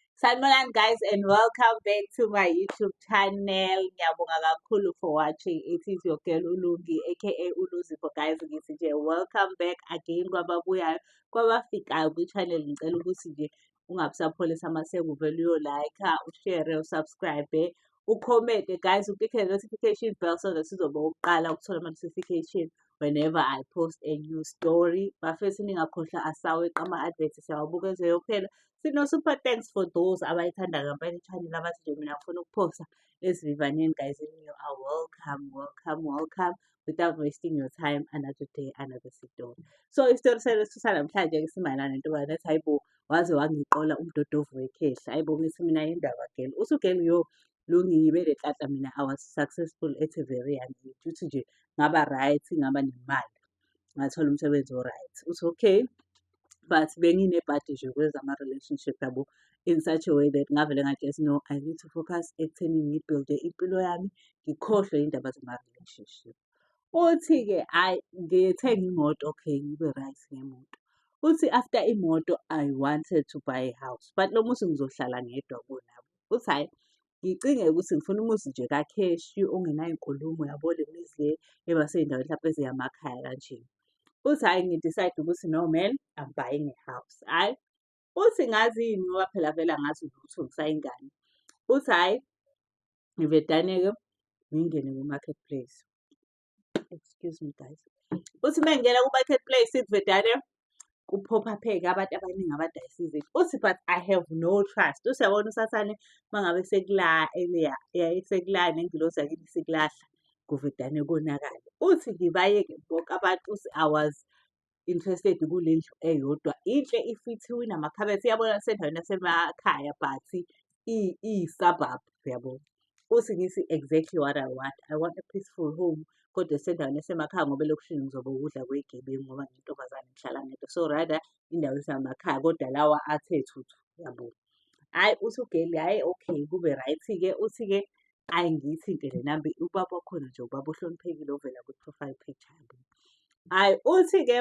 Sanibonani guys and welcome back to my YouTube channel. Ngiyabonga kakhulu for watching. It is your girl Ulungi aka Uluzipho guys ngithi nje welcome back again kwababuyayo kwabafikayo kwi channel ngicela ukuthi nje ungabusapholisa maseke uvele uyo like, ushare, usubscribe ukhomente guys uclickele notification bell so that sizoba ukuqala ukuthola ama-notification whenever i post a new story bafethu ningakhohlwa asaweqa ama-advert siyawabuka ezweyo kuphela sino-super thanks for those abayithanda kampela i-channel abathi nje mina ngifuna ukuphosta esivivaneni guys in you are welcome welcome welcome without wasting your time another day another story so isitori sanamhlanje ke simayelana nentobana ethi hayi bo waze wangiqola umdodovu wekhehla hayi bo ngithi mina yindaba gel uthi ugel yo lo ngibe le tata mina i was successful at a very young age uthi nje ngaba right ngaba nemali ngathola umsebenzi o-right uthi okay but benginebhadi nje kwezama-relationship yabo in such a way that ngavele ngathi yes no i need to focus ekutheni ngibuilde impilo yami ngikhohlwe iy'ndaba zama-relationship uthi-ke hhayi ngithenge imoto okay ngibe right ngemoto uthi after imoto i wanted to buy a house but lo muthi ngizohlala ngedwa kunabo futhi hhayi ngicinge ukuthi ngifuna umuzi nje kakheshi ongenayo inkulumo yabo le mizi le eba sey'ndaweni hlampe eziyamakhaya kanje futhi hhayi ngidicide ukuthi no man I'm buying a house hhayi futhi ngazi yini ngoba phela vele angazi lutho ngisayingane futhi hhayi ngivedane-ke ngingene kwi-market place excuse me guys uthi uma ngingena ku-market place idvedane kuphophapheke abantu abaningi abadayisa izinto uthi but i have no trust usiyabona usathane uma ngabe sekula eleya sekula nengilosi yakini sekulahla kuvedane konakale uthi ngibayeke bonke abantu uthi awazi interested kule ndlu eyodwa inhle ifithiwe inamakhabethi iyabona sendaweni yasemakhaya but iyi-suburb yabo futhi ngithi exactly what i want i want a peaceful home kodwa esendaweni esemakhaya ngoba elokushini ngizobe ukudla kwegebengu ngoba ngintombazane ngihlala ngedwa so rather indawo esemakhaya kodwa lawa athe thuthu yabo hhayi uthi ugeli hhayi okay kube right-ke uthi-ke ayi ngiyithinte le namba ubaba wakhona nje ubaba ohloniphekile ovela kwi-profile picture yabo hhayi uthi-ke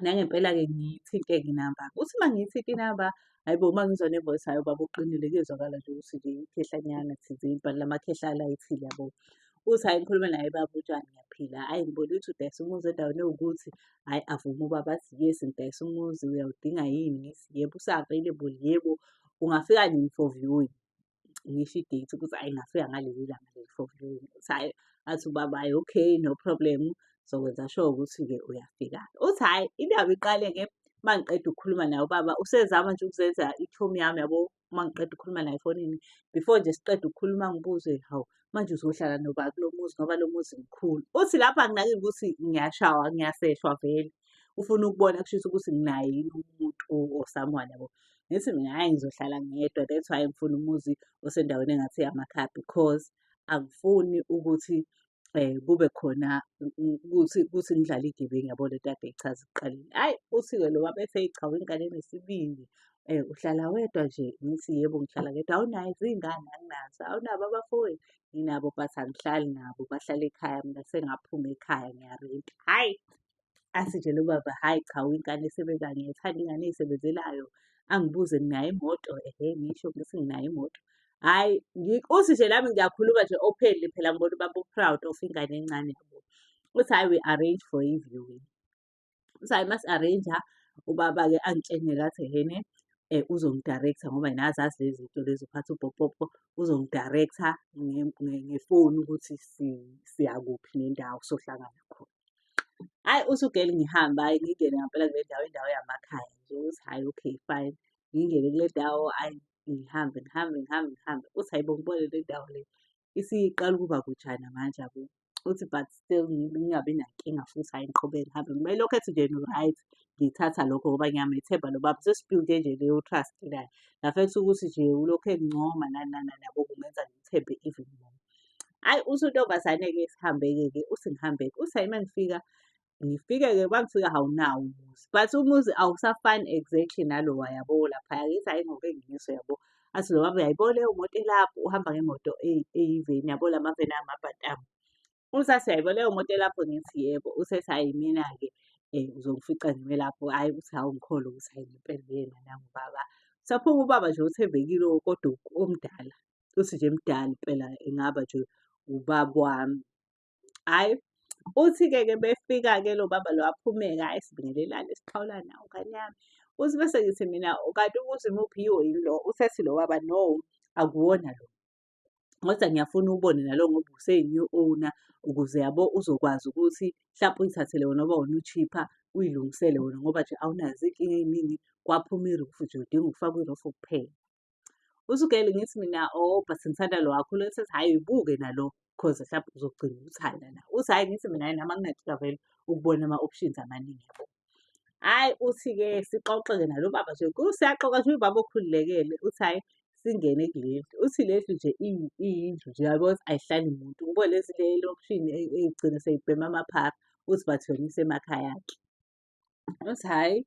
nangempela-ke ngiyithinte-ke inamba uthi uma ngiyithinte inamba hhayi bo uma ngizwa ne-voice hhayi ubaba uqinile kuyezwakala nje ukuthi nje ikhehlanyana thizeni but la makhehlala ithile yabo uthi hhayi ngikhulume naye baba utshani ngiyaphila hhayi ngibona ukuthi udayisa umuzi endaweni ewukuthi hhayi avume ubaba athi yes ngidayisa umuzi uyawudinga yini ngithi yebo usa-available yebo ungafika nini for viewing ngisho idate ukuthi hhayi ngingafika ngaleli langa leli for viewing uthi hhayi athi ubaba hhayi okay no problem sokwenza sure ukuthi-ke uyafika uthi hhayi indaba iqale-ke uma ngiqeda ukukhuluma naye ubaba usezama nje ukuzenza i-tom yami yabo uma ngiqeda ukukhuluma naye efonini before nje siqeda ukukhuluma ngibuze hawu manje uzohlala noba kulo muzi ngoba lo muzi mkhulu uthi lapho anginakile ukuthi ngiyashawa ngiyaseshwa vele ufuna ukubona kushisa ukuthi nginaye yini umuntu osamuhani yabo ngithi mina hhayi ngizohlala ngedwa that's why ngifuna umuzi osendaweni engathi yamakhaya because angifuni ukuthi eh kube khona ukuthi ukuthi nidlala igebengu yabo le tade ichaza ekuqaleni hayi usiko lo wabe eseyichawa ingane nesibindi eh uhlala wedwa nje ngithi yebo ngihlala ngedwa awunayo izingane anginazo awunabo abafowethu nginabo but angihlali nabo bahlala ekhaya mina sengaphuma ekhaya ngiyarenta hayi asitshele ubaba hhayi cha uyingane esebenza ngiyayithanda ingane eyisebenzelayo angibuze nginayo imoto ehe ngisho ngithi nginayo imoto hhayi uthi nje nami ngiyakhuluma nje openly phela ngibona ubaba u-proud of ingane encane yabo uthi hhayi we arrange for i-viewing uthi hhayi masi-arrange-a ubaba-ke angitshengele athi hene um uzongidirector ngoba yena azazi lezi zinto lezi uphatha ubhopopo uzongidirector ngefoni ukuthi siyakuphi nendawo sohlangana khona Hhayi uthi ugeli ngihambe, hhayi ngingene ngampela kule ndawo, indawo yamakhaya nje. Uthi hhayi okay fine, ngingene kule ndawo, hhayi ngihambe, ngihambe, ngihambe, ngihambe. Uthi hhayi bo ngibone le ndawo le isiqala ukuba kujana manje yabo. Uthi but still ngingabi nankinga futhi hhayi ngiqhubeke ngihambe. Uma elokhu ethi nje right, ngithatha lokho ngoba ngiyamethemba lo baba. Sesi-build-e nje leyo trust naye. Ngafetha ukuthi nje ulokhu engincoma nani nani nani yabo, kungenza ngimthembe even more. Hhayi uthi untombazane-ke sihambeke-ke, uthi ngihambeke. Uthi hhayi uma ngifika, ngifike-ke uma ngifika awunawo umuzi. But umuzi awusafani exactly nalowa yabo laphaya. Ngithi hhayi ngoke nginyiswe yabo. Athi lo baba uyayibona leyo moto elapho, uhamba ngemoto eyi- eyiveni yabo la maveni amabhatamu. Uthi athi uyayibona leyo moto elapho ngithi yebo. Uthi ethi hhayi mina-ke um uzongifica ngime lapho. Hhayi uthi hhawu ngikholwa ukuthi hhayi ngempela uyena nangu ubaba. Saphuma ubaba nje othembekile kodwa omdala. uthi nje mdala impela engaba nje ubaba wami hhayi uthi-ke ke befika-ke lo baba lo aphumeka hhayi sibingelelane siphawula nawo ngane yami uthi bese ngithi mina kanti ukuthi muphi yiwo yini lo usethi lo baba no akuwona lo kodwa ngiyafuna ubone nalo ngoba useyi-new owner ukuze yabo uzokwazi ukuthi mhlawumpe uyithathele wona ngoba wona u-cheaper uyilungisele wona ngoba nje awunazo iy'nkinga ey'ningi kwaphuma irufu nje udinga ukufaka irufu kuphela usukele ngithi mina oh but ngithanda lo wakho lo sethi hhayi uyibuke nalo cause mhlawumbe uzogcina ukuthanda na uthi hhayi ngithi mina nama ngingathika vele ukubona ama-options amaningi yabo hhayi uthi-ke sixoxe-ke nalo baba nje kusiyaxoxa nje ubaba okhululekele uthi hhayi singene kuleli uthi leli nje iyindlu nje yabo ayihlali muntu ngoba lezi le lomshini egcine seyibhema amaphara uthi bathwele isemakhaya-ke uthi hhayi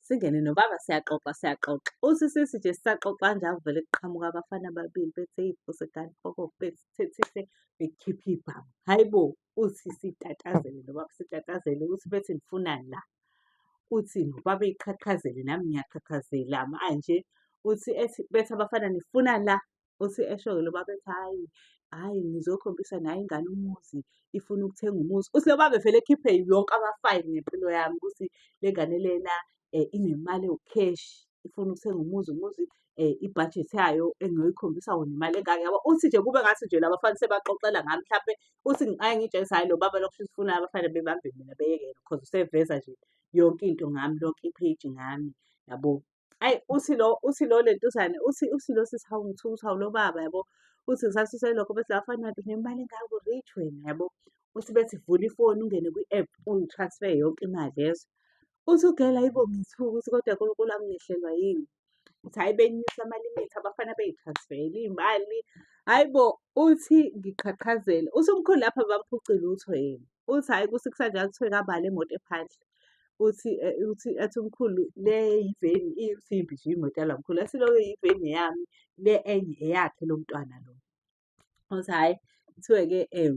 singene nobaba siyaxoxa siyaxoxa uthi sisi nje sisaxoxa nje avele kuqhamuka abafana ababili bethe iy'fuse kanti koko bethethise bekhiphe ibhamu hhayi bo uthi sitatazele nobaba sitatazele uthi bethi nifunani la uthi nobaba iqhaqhazele nami ngiyaqhaqhazela manje uthi ethi bethi abafana nifuna la Uthi esho-ke lo baba ethi hhayi, hhayi ngizokhombisa nayo ingane umuzi, ifuna ukuthenga umuzi. Uthi lo baba evele ekhiphe yonke amafayili ngempilo yami ukuthi le ngane lena um inemali ewukheshi, ifuna ukuthenga umuzi, umuzi um ibhajethi yayo engiyoyikhombisa wona imali engaka yabo. Uthi nje kube ngathi nje la bafana sebaxoxela ngami mhlampe, uthi ngake ngitshengise hhayi lo baba lo kushuthi ufuna abafana bebambe mina beyeke yena cause useveza nje yonke into ngami, lonke ipheji ngami yabo. ayi uthi lo uthi lo lentuzane uthi uthi lo sisi hawu ngithuka uthi hawu lo baba yabo uthi ngisasuse lokho bese bafana nto nemali engako rich wena yabo uthi bethi vula ifoni ungene kwi-app ungitransfer yonke imali yezo uthi ugela yibo ngithuka ukuthi kodwa nkulunkulu anginehlelwa yini ukuthi hhayi benyusa amalimitha abafana beyitransfele iy'mali hhayi bo uthi ngiqhaqhazele uthi umkhulu lapha bamphuce lutho yena uthi hhayi kusikisa nje kuthiwe kabala imoto ephandle uthi eh, uthi athi umkhulu le yiveni iyisimbi nje imoto yala mkhulu asiloko yiveni yami le enye eyakhe lo mntwana lo uthi hhayi kuthiwe-ke um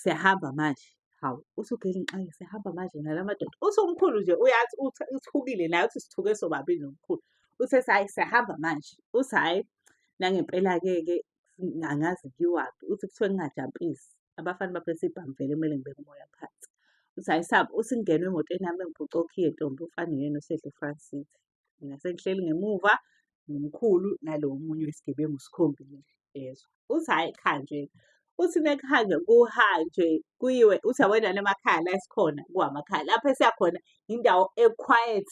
siyahamba manje hawu usugele ngiqale sihamba manje nala madoda uthi umkhulu nje uyathi uthukile naye uthi sithuke sobabili nomkhulu uthe hhayi siyahamba manje uthi hhayi nangempela-ke-ke angazi ngiwaphi uthi kuthiwe ngingajampisi abafana baphethe ibhamu vele kumele ngibeke umoya phansi uthi ayisabi uthi ngingenwe emotweni yami engiphuca okhiye ntombi ufana yena osedle france city mina sengihleli ngemuva nomkhulu nalo omunye wesigebengu sikhombile yezwa uthi hhayi kuhanjwe uthi mekuhanjwe kuhanjwe kuyiwe uthi yabona namakhaya la esikhona kuwamakhaya lapho esiyakhona indawo equiet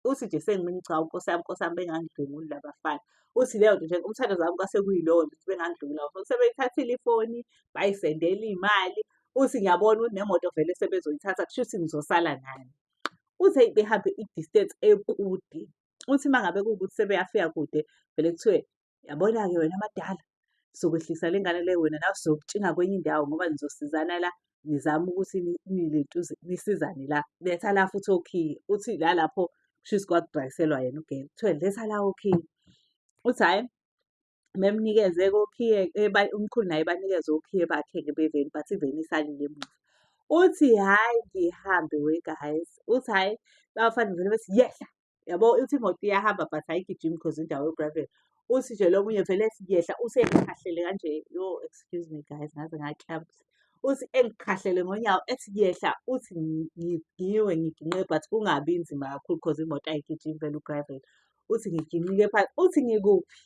uthi nje sengimini cha nkosi yami nkosi yami bengangidlwenguli labafana uthi leyo nto nje umthandazo wami kwase kuyilowo nje ukuthi bengangidlwengula abafana sebeyithathile ifoni bayisendela iy'mali uthi ngiyabona ukuthi nemoto vele sebezoyithatha kusho ukuthi ngizosala nani uthi eyi behambe i-distance ekude uthi uma ngabe kuwukuthi sebeyafika kude vele kuthiwe Yabona-ke wena amadala sokwehlisa le ngane le wena nawe sokutshinga kwenye indawo ngoba nizosizana la nizama ukuthi nilentuze nisizane la letha la futhi okhiye uthi la lapho kushuthi kwakudrayiselwa yena ugele kuthiwe letha la okhiye uthi hhayi memnikeze kokhiye umkhulu naye banikeze okhiye bakhe-ke beveni but iveni isalile emuva uthi hhayi ngihambe we guys uthi hhayi bafana vele bethi yehla yabo uthi imoto iyahamba but ayigijimi because indawo yogravel uthi nje lo munye vele siyehla usengikhahlele kanje yo excuse me guys ngaze ngaklamps uthi engikhahlele ngonyawo ethi yehla uthi ngigiwe ngiginqe but kungabi nzima kakhulu because imoto ayigijimi vele ugravel uthi ngiginqike phansi uthi ngikuphi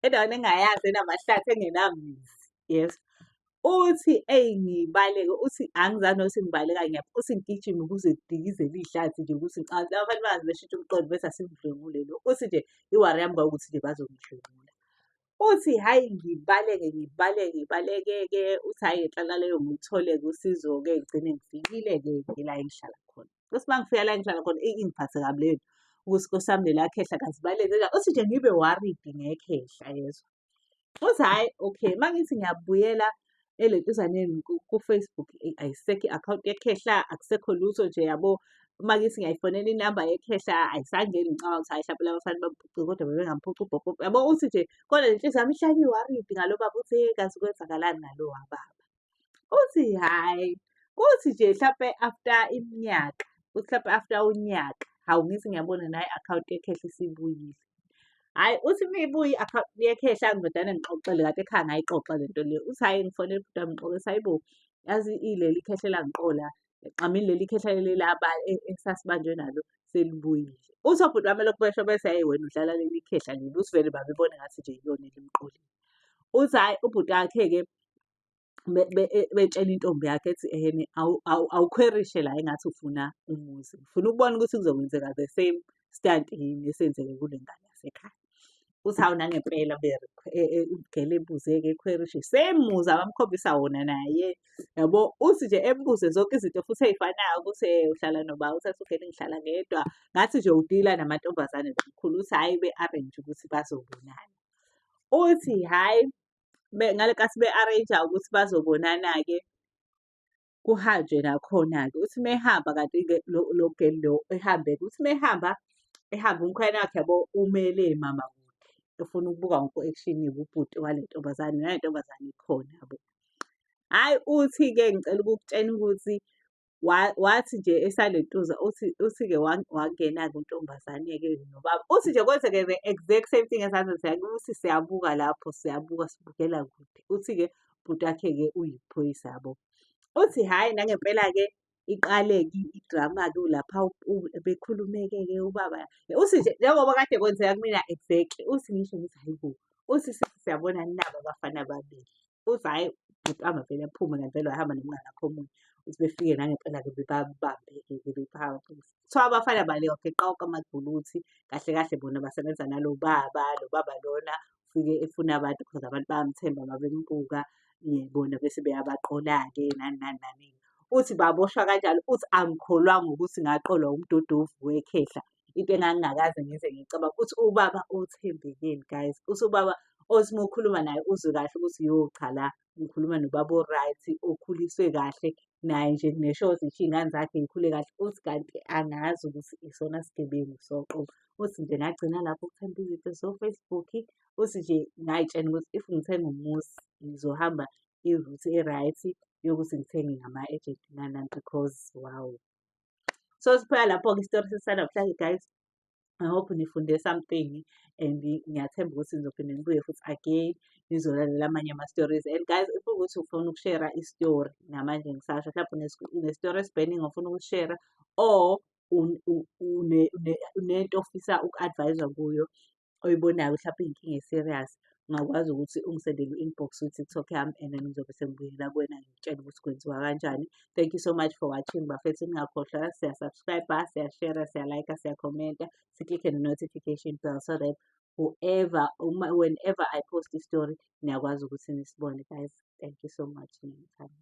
endaweni engayazi enamahlathi engenamizi yes uthi eyi ngibaleke uthi angizani nokuthi ngibaleka ngiyaphi uthi ngigijime ukuze ngidikizele iy'hlathi nje ukuthi ngicathi abantu bangaze beshintshe umqondo bese asimdlwengule lo uthi nje iwari yami kwakuthi nje bazongidlwengula uthi hhayi ngibaleke ngibaleke ngibaleke-ke uthi hhayi ngenhlalaleyo ngithole-ke usizo-ke ngigcine ngifikile-ke ke la engihlala khona ukuthi uma ngifika la engihlala khona eyi ingiphathe kabi leyo nto ukuthi nkosi yami lelakhehla kazibaleke uthi nje ngibe worried ngekhehla yezwa Futhi hhayi okay, uma ngithi ngiyabuyela elentuzaneni ku-Facebook eh, ayisekho i-akhawunti yekhehla, akusekho lutho nje yabo. Uma ngithi ngiyayifonela inamba yekhehla ayisangeni ngicabanga ukuthi hhayi hlampe laba bafana bamuphucile kodwa bebengamuphuci ubhobho. Yabo uthi nje kodwa le nhliziyo yami ihlale i-worried ngalo baba ukuthi hey kazi kwenzakalani ngalo wababa. uthi hhayi kuthi nje hlampe after iminyaka kuthi hlampe after unyaka hawu ngithi ngiyabona naye i-akhawunti yekhehla isibuyile hhayi uthi uma ibuye i-akhawunti yekhehla ngibadane ngixoxele kade ekhaya ngayixoxa le nto le uthi hhayi ngifonele ubhuti wami ngixoxe sayibo yazi ileli ikhehlela ngiqola egqamile leli khehla leli laba e- esasibanjwe nalo selibuyile uthi obhuti bami lokhu besho bese hayi wena udlala leli khehla leli uthi vele babebone ngathi nje yiyona elimqolile uthi hhayi ubhuti wakhe-ke be- be- e- betshela intombi yakhe ethi ehene awu- awu- awukhwerishe la engathi ufuna umuzi ngifuna ukubona ukuthi kuzokwenzeka the same stunt yini esenzeke kule ngane yasekhaya uthi hawu nangempela ugele ebuzeke ekhwerishe same muzi abamkhombisa wona naye yabo uthi nje embuze zonke izinto futhi ey'fanayo ukuthi eh, uhlala noba uthi asugele ngihlala ngedwa ngathi nje udila namantombazane kakhulu uthi hhayi be-arrange ukuthi bazobonana uthi hhayi ngale kathi be-arrange-a ukuthi bazobonana-ke kuhanjwe nakhona-ke. Uthi uma ehamba kanti-ke lo lo girl lo ehambe-ke, uthi uma ehamba, ehamba umkhwenyana wakhe yabo umele emama kude, efuna ukubuka wonke u-action wobhuti wale ntombazane, nale ntombazane ikhona yabo. Hhayi uthi-ke ngicela ukukutshena ukuthi wa wathi nje esalentuza uthi uthi-ke wa wangena-ke untombazane-ke nobaba. Uthi nje kwenzeke the exact same thing as azenze ukuthi siyabuka lapho, siyabuka sibukela kude. Uthi-ke bhuti wakhe-ke uyiphoyisa yabo uthi hhayi nangempela-ke iqale-ke idrama-ke lapha bekhulumeke-ke ubaba uthi nje njengoba kade kwenzeka kumina exactly uthi ngisho ngithi hhayi bo uthi siyabona nabo abafana ababili uthi hhayi bhuti amavele aphume ngempela wahamba nomngane akho omunye uthi befike nangempela-ke bebabambeke-ke bephapha kuthiwa abafana baleyoke qawuka amaguluthi kahle kahle bona basebenza nalo baba lo baba lona ufike efuna abantu because abantu bayamthemba babembuka bona bese beyabaqola-ke nani nani nani uthi baboshwa kanjalo uthi angikholwanga ukuthi ngaqolwa umdodovu wekhehla into engangingakaze ngize ngicabanga ukuthi ubaba othembekeni guys uthi ubaba othi uma ukhuluma naye uzwe kahle ukuthi yo cha la ngikhuluma nobaba o-right okhuliswe kahle naye nje ngisho ukuthi ngisho iy'ngane zakhe ngikhule kahle uthi kanti angazi ukuthi isona sigebengu soqobo uthi nje ngagcina lapho ukuthanda izinto so-facebook uthi nje ngayitshena ukuthi if ngithenga umuzi ngizohamba iruthi e-right yokuthi ngithenge ngama-agent nanani because wow so siphela lapho-ke isitori sesanamhlanje guys I hope nifunde something and ngiyathemba ukuthi nizophinde nibuye futhi again nizolalela amanye ama-stories and guys if ukuthi ufuna ukushera i-story namanje ngisasho mhlawumbe une-story esibeningi ofuna ukushera or unento ofisa uku-advise-wa kuyo oyibonayo mhlawumbe iyinkinga e-serious ungakwazi ukuthi ungisendele i-inbox kwi-tiktok yami and then ngizobe sengibuyela kuwena ngikutshela ukuthi kwenziwa kanjani thank you so much for watching bafethu ningakhohlwa siyasubscribe siyashera siyalayika siyakhomenta siklikhe ne-notification bell so that whoever uma whenever i post i-story niyakwazi ukuthi nisibone guys thank you so much niyangithanda